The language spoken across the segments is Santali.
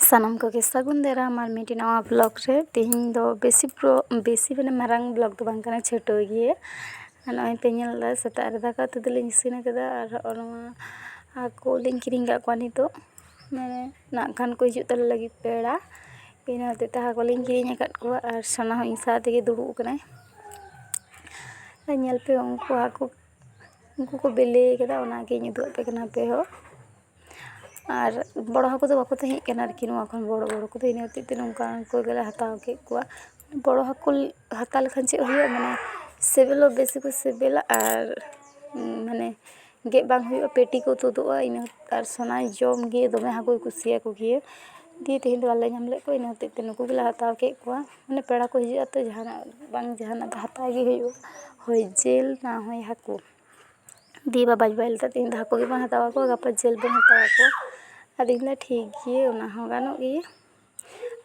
ᱥᱟᱱᱟᱢ ᱠᱚᱜᱮ ᱥᱟᱹᱜᱩᱱ ᱫᱟᱨᱟᱢ ᱟᱨ ᱢᱤᱫᱴᱮᱱ ᱱᱟᱣᱟ ᱵᱞᱚᱠ ᱨᱮ ᱛᱮᱦᱮᱧ ᱫᱚ ᱵᱮᱥᱤ ᱯᱨᱳ ᱵᱮᱥᱤ ᱢᱟᱱᱮ ᱢᱟᱨᱟᱝ ᱵᱞᱚᱠ ᱫᱚ ᱵᱟᱝ ᱠᱟᱱᱟ ᱪᱷᱳᱴᱳ ᱜᱮᱭᱟ ᱟᱨ ᱱᱚᱜᱼᱚᱭ ᱯᱮ ᱧᱮᱞ ᱮᱫᱟ ᱥᱮᱛᱟᱜ ᱨᱮ ᱫᱟᱠᱟ ᱩᱛᱩ ᱫᱚᱞᱤᱧ ᱤᱥᱤᱱ ᱠᱟᱫᱟ ᱟᱨ ᱦᱚᱸᱜᱼᱚᱭ ᱱᱚᱣᱟ ᱦᱟᱹᱠᱩ ᱞᱤᱧ ᱠᱤᱨᱤᱧ ᱠᱟᱜ ᱠᱚᱣᱟ ᱱᱤᱛᱚᱜ ᱢᱟᱱᱮ ᱱᱟᱜ ᱠᱷᱟᱱ ᱠᱚ ᱦᱤᱡᱩᱜ ᱛᱟᱞᱮ ᱞᱟᱹᱜᱤᱫ ᱯᱮᱲᱟ ᱤᱱᱟᱹ ᱦᱚᱛᱮᱡ ᱛᱮ ᱦᱟᱹᱠᱩ ᱞᱤᱧ ᱠᱤᱨᱤᱧ ᱟᱠᱟᱫ ᱠᱚᱣᱟ ᱟᱨ ᱥᱚᱱᱟ ᱦᱚᱸ ᱤᱧ ᱥᱟᱶ ᱛᱮᱜᱮ ᱫᱩᱲᱩᱵ ᱠᱟᱱᱟᱭ ᱧᱮᱞ ᱯᱮ ᱩᱱᱠᱩ ᱦᱟᱹᱠᱩ ᱩᱱᱠᱩ ᱠᱚ ᱵᱤᱞᱤ ᱠᱟᱫᱟ ᱚᱱᱟᱜᱤᱧ ᱩᱫᱩᱜ ᱟᱯᱮ ᱠᱟᱱᱟ ᱟᱯᱮ ᱦᱚᱸ ᱟᱨ ᱵᱚᱲᱚ ᱦᱟᱹᱠᱩ ᱫᱚ ᱵᱟᱠᱚ ᱛᱟᱦᱮᱸᱜ ᱠᱟᱱᱟ ᱟᱨᱠᱤ ᱱᱚᱣᱟ ᱠᱷᱚᱱ ᱵᱚᱲᱚ ᱵᱚᱲᱚ ᱠᱚᱫᱚ ᱤᱱᱟᱹ ᱦᱚᱛᱮᱡ ᱛᱮ ᱱᱚᱝᱠᱟ ᱦᱟᱹᱠᱩ ᱜᱮᱞᱮ ᱦᱟᱛᱟᱣ ᱠᱮᱜ ᱠᱚᱣᱟ ᱵᱚᱲᱚ ᱦᱟᱹᱠᱩ ᱦᱟᱛᱟᱣ ᱞᱮᱠᱷᱟᱱ ᱪᱮᱫ ᱦᱩᱭᱩᱜᱼᱟ ᱢᱟᱱᱮ ᱥᱤᱵᱤᱞ ᱦᱚᱸ ᱵᱮᱥᱤ ᱠᱚ ᱥᱤᱵᱤᱞᱟ ᱟᱨ ᱢᱟᱱᱮ ᱜᱮᱫ ᱵᱟᱝ ᱦᱩᱭᱩᱜᱼᱟ ᱯᱮᱴᱤ ᱠᱚ ᱛᱩᱫᱩᱜᱼᱟ ᱤᱱᱟᱹ ᱟᱨ ᱥᱚᱱᱟᱭ ᱡᱚᱢ ᱜᱮ ᱫᱚᱢᱮ ᱦᱟᱹᱠᱩᱭ ᱠᱩᱥᱤᱭᱟᱠᱚ ᱜᱮᱭᱟ ᱫᱤᱭᱮ ᱛᱮᱦᱮᱧ ᱫᱚ ᱵᱟᱞᱮ ᱧᱟᱢ ᱞᱮᱜ ᱠᱚᱣᱟ ᱤᱱᱟᱹ ᱦᱚᱛᱮᱡ ᱛᱮ ᱱᱩᱠᱩ ᱜᱮᱞᱮ ᱦᱟᱛᱟᱣ ᱠᱮᱜ ᱠᱚᱣᱟ ᱢᱟᱱᱮ ᱯᱮᱲᱟ ᱠᱚ ᱦᱤᱡᱩᱜ ᱟᱛᱚ ᱡᱟᱦᱟᱱᱟᱜ ᱵᱟᱝ ᱡᱟᱦᱟᱱᱟᱜ ᱫᱚ ᱦᱟᱛᱟᱣ ᱜᱮ ᱦᱩᱭᱩᱜᱼᱟ ᱦᱳᱭ ᱡᱤᱞ ᱱᱟ ᱦᱳᱭ ᱦᱟᱹᱠᱩ ᱫᱤᱭᱮ ᱵᱟᱵᱟᱧ ᱵᱟᱭ ᱞᱟᱹᱭᱫᱟ ᱛᱮᱦᱮᱧ ᱫᱚ ᱦᱟᱹᱠᱩ ᱜᱮᱵᱚᱱ ᱦᱟᱛᱟᱣ ᱠᱚᱣᱟ ᱜᱟᱯᱟ ᱡᱤᱞ ᱵᱚᱱ ᱦᱟᱛᱟᱣ ᱠᱚᱣᱟ ᱟᱫᱚᱧ ᱢᱮᱱᱫᱟ ᱴᱷᱤᱠ ᱜᱮᱭᱟ ᱚᱱᱟ ᱦᱚᱸ ᱜᱟᱱᱚᱜ ᱜᱮᱭᱟ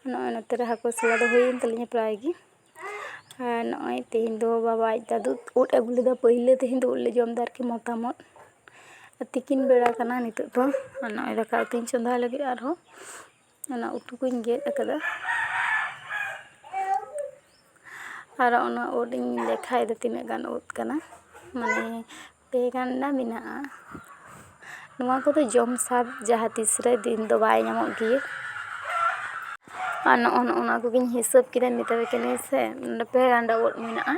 ᱱᱚᱜᱼᱚᱭ ᱱᱚᱛᱮ ᱨᱮ ᱦᱟᱹᱠᱩ ᱥᱟᱞᱟ ᱫᱚ ᱦᱩᱭᱮᱱ ᱛᱟᱞᱤᱧᱟ ᱯᱨᱟᱭ ᱜᱮ ᱟᱨ ᱱᱚᱜᱼᱚᱭ ᱛᱮᱦᱮᱧ ᱫᱚ ᱵᱟᱵᱟ ᱟᱡ ᱫᱟᱹᱫᱩ ᱩᱫ ᱟᱹᱜᱩ ᱞᱮᱫᱟ ᱯᱟᱹᱭᱞᱟᱹ ᱛᱮᱦᱮᱧ ᱫᱚ ᱩᱫ ᱞᱮ ᱡᱚᱢᱫᱟ ᱟᱨᱠᱤ ᱢᱚᱛᱟᱢ ᱩᱫ ᱛᱤᱠᱤᱱ ᱵᱮᱲᱟ ᱠᱟᱱᱟ ᱱᱤᱛᱚᱜ ᱫᱚ ᱟᱨ ᱱᱚᱜᱼᱚᱭ ᱫᱟᱠᱟ ᱩᱛᱩᱧ ᱪᱚᱸᱫᱟ ᱞᱟᱹᱜᱤᱫ ᱟᱨᱦᱚᱸ ᱚᱱᱟ ᱩᱛᱩ ᱠᱚᱧ ᱜᱮᱫ ᱟᱠᱟᱫᱟ ᱟᱨ ᱚᱱᱟ ᱩᱫ ᱤᱧ ᱞᱮᱠᱷᱟᱭᱮᱫᱟ ᱛᱤᱱᱟᱹᱜ ᱜᱟᱱ ᱩᱫ ᱠᱟᱱᱟ ᱢᱟᱱᱮ ᱯᱮ ᱜᱟᱱᱰᱟ ᱢᱮᱱᱟᱜᱼᱟ ᱱᱚᱣᱟ ᱠᱚᱫᱚ ᱡᱚᱢ ᱥᱟᱫ ᱡᱟᱦᱟᱸ ᱛᱤᱥ ᱨᱮ ᱫᱤᱱ ᱫᱚ ᱵᱟᱭ ᱧᱟᱢᱚᱜ ᱜᱮᱭᱟ ᱟᱨ ᱱᱚᱜᱼᱚ ᱱᱚᱜᱼᱚ ᱱᱚᱣᱟ ᱠᱚᱜᱮᱧ ᱦᱤᱥᱟᱹᱵ ᱠᱮᱫᱟ ᱢᱮᱛᱟᱯᱮ ᱠᱟᱹᱱᱟᱹᱧ ᱥᱮ ᱯᱮ ᱜᱟᱱᱰᱟ ᱩᱫ ᱢᱮᱱᱟᱜᱼᱟ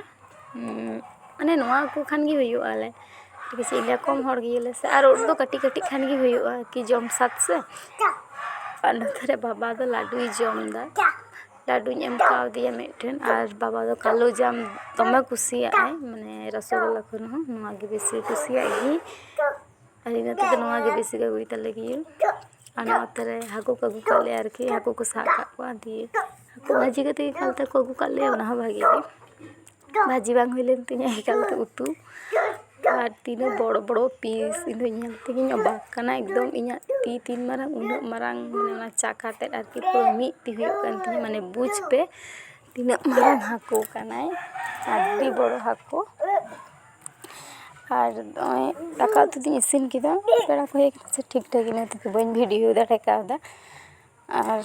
ᱢᱟᱱᱮ ᱱᱚᱣᱟ ᱠᱚ ᱠᱷᱟᱱ ᱜᱮ ᱦᱩᱭᱩᱜ ᱟᱞᱮ ᱵᱮᱥᱤ ᱜᱮ ᱠᱚᱢ ᱦᱚᱲ ᱜᱮᱭᱟᱞᱮ ᱥᱮ ᱟᱨ ᱩᱱᱫᱚ ᱠᱟᱹᱴᱤᱡ ᱠᱟᱹᱴᱤᱡ ᱠᱷᱟᱱ ᱜᱮ ᱦᱩᱭᱩᱜᱼᱟ ᱠᱤ ᱡᱚᱢ ᱥᱟᱫ ᱥᱮ ᱟᱨ ᱱᱚᱛᱮ ᱨᱮ ᱵᱟᱵᱟ ᱫᱚ ᱞᱟᱹᱰᱩᱭ ᱡᱚᱢᱫᱟ ᱞᱟᱹᱰᱩᱧ ᱮᱢ ᱠᱟᱣᱫᱮᱭᱟ ᱢᱤᱫᱴᱮᱱ ᱟᱨ ᱵᱟᱵᱟ ᱫᱚ ᱠᱟᱞᱳ ᱡᱟᱢ ᱫᱚᱢᱮ ᱠᱩᱥᱤᱭᱟᱜ ᱟᱭ ᱢᱟᱱᱮ ᱨᱚᱥᱚᱜᱳᱞᱞᱟ ᱠᱷᱚᱱ ᱦᱚᱸ ᱱᱚᱣᱟᱜᱮ ᱵᱮᱥᱤ ᱠᱩᱥᱤᱭᱟᱜ ᱜᱮᱭᱟᱭ ᱟᱞᱮ ᱱᱚᱛᱮ ᱫᱚ ᱱᱚᱣᱟᱜᱮ ᱵᱮᱥᱤ ᱠᱚ ᱟᱹᱜᱩᱭ ᱛᱟᱞᱮ ᱜᱮᱭᱟ ᱟᱨ ᱱᱚᱛᱮ ᱨᱮ ᱦᱟᱹᱠᱩ ᱠᱚ ᱟᱹᱜᱩ ᱠᱟᱜ ᱞᱮᱭᱟ ᱟᱨᱠᱤ ᱦᱟᱹᱠᱩ ᱠᱚ ᱥᱟᱵ ᱠᱟᱜ ᱠᱚᱣᱟ ᱫᱤᱭᱮ ᱦᱟᱹᱠᱩ ᱵᱷᱟᱹᱡᱤ ᱠᱟᱛᱮ ᱜᱮ ᱮᱠᱟᱞ ᱛᱮᱠᱚ ᱟᱹᱜᱩ ᱠᱟᱜ ᱞᱮᱭᱟ ᱚᱱᱟ ᱦᱚᱸ ᱵᱷᱟᱹᱜᱤ ᱜᱮ ᱵᱷᱟᱹᱡᱤ ᱵᱟᱝ ᱦᱩᱭ ᱞᱮᱱ ᱛᱤᱧᱟᱹ ᱮᱠᱟᱞ ᱛᱮ ᱩᱛᱩ ᱟᱨ ᱛᱤᱱᱟᱹᱜ ᱵᱚᱲᱚ ᱵᱚᱲᱚ ᱯᱤᱥ ᱤᱧ ᱫᱚ ᱧᱮᱞ ᱛᱮᱜᱮᱧ ᱚᱵᱟᱠ ᱠᱟᱱᱟ ᱮᱠᱫᱚᱢ ᱤᱧᱟᱹᱜ ᱛᱤ ᱛᱤᱱ ᱢᱟᱨᱟᱝ ᱩᱱᱟᱹᱜ ᱢᱟᱨᱟᱝ ᱢᱟᱱᱮ ᱚᱱᱟ ᱪᱟᱠᱷᱟ ᱛᱮᱫ ᱟᱨᱠᱤ ᱯᱩᱨᱟᱹ ᱢᱤᱫ ᱛᱤ ᱦᱩᱭᱩᱜ ᱠᱟᱱ ᱛᱤᱧᱟᱹ ᱢᱟᱱᱮ ᱵᱩᱡᱽ ᱯᱮ ᱛᱤᱱᱟᱹᱜ ᱢᱟᱨᱟᱝ ᱦᱟᱹᱠᱩ ᱠᱟᱱᱟᱭ ᱟᱹᱰᱤ ᱵᱚᱲᱚ ᱦᱟᱹᱠᱩ ᱟᱨ ᱱᱚᱜᱼᱚᱭ ᱫᱟᱠᱟ ᱩᱛᱩ ᱫᱩᱧ ᱤᱥᱤᱱ ᱠᱮᱫᱟ ᱯᱮᱲᱟ ᱠᱚ ᱦᱮᱡ ᱠᱟᱛᱮ ᱴᱷᱤᱠ ᱴᱷᱟᱠ ᱤᱱᱟᱹ ᱛᱮᱜᱮ ᱵᱟᱹᱧ ᱵᱷᱤᱰᱤᱭᱳ ᱫᱟᱲᱮ ᱠᱟᱣᱫᱟ ᱟᱨ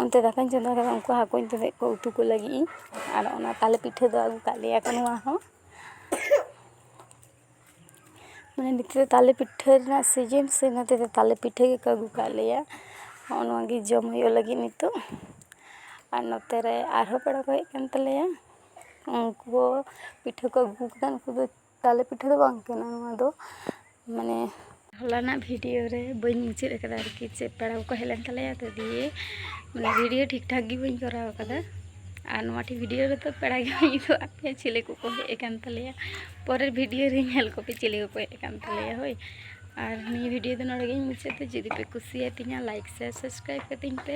ᱚᱱᱛᱮ ᱫᱟᱠᱟᱧ ᱪᱚᱸᱫᱟ ᱠᱮᱫᱟ ᱩᱱᱠᱩ ᱦᱟᱹᱠᱩᱧ ᱩᱛᱩᱞᱮᱫ ᱠᱚᱣᱟ ᱩᱛᱩ ᱠᱚ ᱞᱟᱹᱜᱤᱫ ᱤᱧ ᱟᱨ ᱚᱱᱟ ᱛᱟᱞᱮ ᱯᱤᱴᱷᱟᱹ ᱫᱚ ᱟᱹᱜᱩ ᱠᱟᱜ ᱞᱮᱭᱟ ᱠᱚ ᱱᱚᱣᱟ ᱦᱚᱸ ᱢᱟᱱᱮ ᱱᱤᱛᱳᱜ ᱫᱚ ᱛᱟᱞᱮ ᱯᱤᱴᱷᱟᱹ ᱨᱮᱱᱟᱜ ᱥᱤᱡᱤᱱ ᱥᱮ ᱚᱱᱟᱛᱮ ᱛᱟᱞᱮ ᱯᱤᱴᱷᱟᱹ ᱜᱮᱠᱚ ᱟᱹᱜᱩ ᱠᱟᱜ ᱞᱮᱭᱟ ᱦᱚᱸᱜᱼᱚ ᱱᱚᱣᱟ ᱜᱮ ᱡᱚᱢ ᱦᱩᱭᱩᱜ ᱞᱟᱹᱜᱤᱫ ᱱᱤᱛᱳᱜ ᱟᱨ ᱱᱚᱛᱮ ᱨᱮ ᱟᱨᱦᱚᱸ ᱯᱮᱲᱟ ᱠᱚ ᱦᱮᱡ ᱠᱟᱱ ᱛᱟᱞᱮᱭᱟ ᱩᱱᱠᱩ ᱯᱤᱴᱷᱟᱹ ᱠᱚ ᱟᱹᱜᱩ ᱠᱮᱫᱟ ᱩᱱᱠᱩ ᱫᱚ ᱛᱟᱞᱮ ᱯᱤᱴᱷᱟᱹ ᱫᱚ ᱵᱟᱝ ᱠᱟᱱᱟ ᱱᱚᱣᱟ ᱫᱚ ᱢᱟᱱᱮ ᱦᱚᱞᱟᱱᱟᱜ ᱵᱷᱤᱰᱤᱭᱳ ᱨᱮ ᱵᱟᱹᱧ ᱢᱩᱪᱟᱹᱫ ᱠᱟᱫᱟ ᱟᱨᱠᱤ ᱡᱮ ᱯᱮᱲᱟ ᱠᱚᱠᱚ ᱦᱮᱡ ᱞᱮᱱ ᱛᱟᱞᱮᱭᱟ ᱛᱚ ᱫᱤᱭᱮ ᱢᱟᱱᱮ ᱵᱷᱤᱰᱤᱭᱳ ᱴᱷᱤᱠ ᱴᱷᱟᱠ ᱜᱮ ᱵᱟᱹᱧ ᱠᱚᱨᱟᱣ ᱠᱟᱫᱟ ᱟᱨ ᱱᱚᱣᱟ ᱴᱷᱤᱠ ᱵᱷᱤᱰᱤᱭᱳ ᱨᱮᱫᱚ ᱯᱮᱲᱟ ᱜᱮ ᱵᱟᱹᱧ ᱩᱫᱩᱜ ᱟᱫ ᱯᱮᱭᱟ ᱪᱤᱞᱤ ᱠᱚᱠᱚ ᱦᱮᱡ ᱟᱠᱟᱱ ᱛᱟᱞᱮᱭᱟ ᱯᱚᱨᱮᱨ ᱵᱷᱤᱰᱤᱭᱳ ᱨᱮ ᱧᱮᱞ ᱠᱚᱯᱮ ᱪᱤᱞᱤ ᱠᱚᱠᱚ ᱦᱮᱡ ᱟᱠᱟᱱ ᱛᱟᱞᱮᱭᱟ ᱦᱳᱭ ᱟᱨ ᱱᱤᱭᱟᱹ ᱵᱷᱤᱰᱤᱭᱳ ᱫᱚ ᱱᱚᱰᱮ ᱜᱮᱧ ᱢᱩᱪᱟᱹᱫ ᱫᱟ ᱡᱩᱫᱤ ᱯᱮ ᱠᱩᱥᱤᱭᱟᱛᱤᱧᱟ ᱞᱟᱭᱤᱠ ᱥᱮᱭᱟᱨ ᱥᱟᱵᱥᱠᱨᱟᱭᱤᱵ ᱠᱟᱹᱛᱤᱧ ᱯᱮ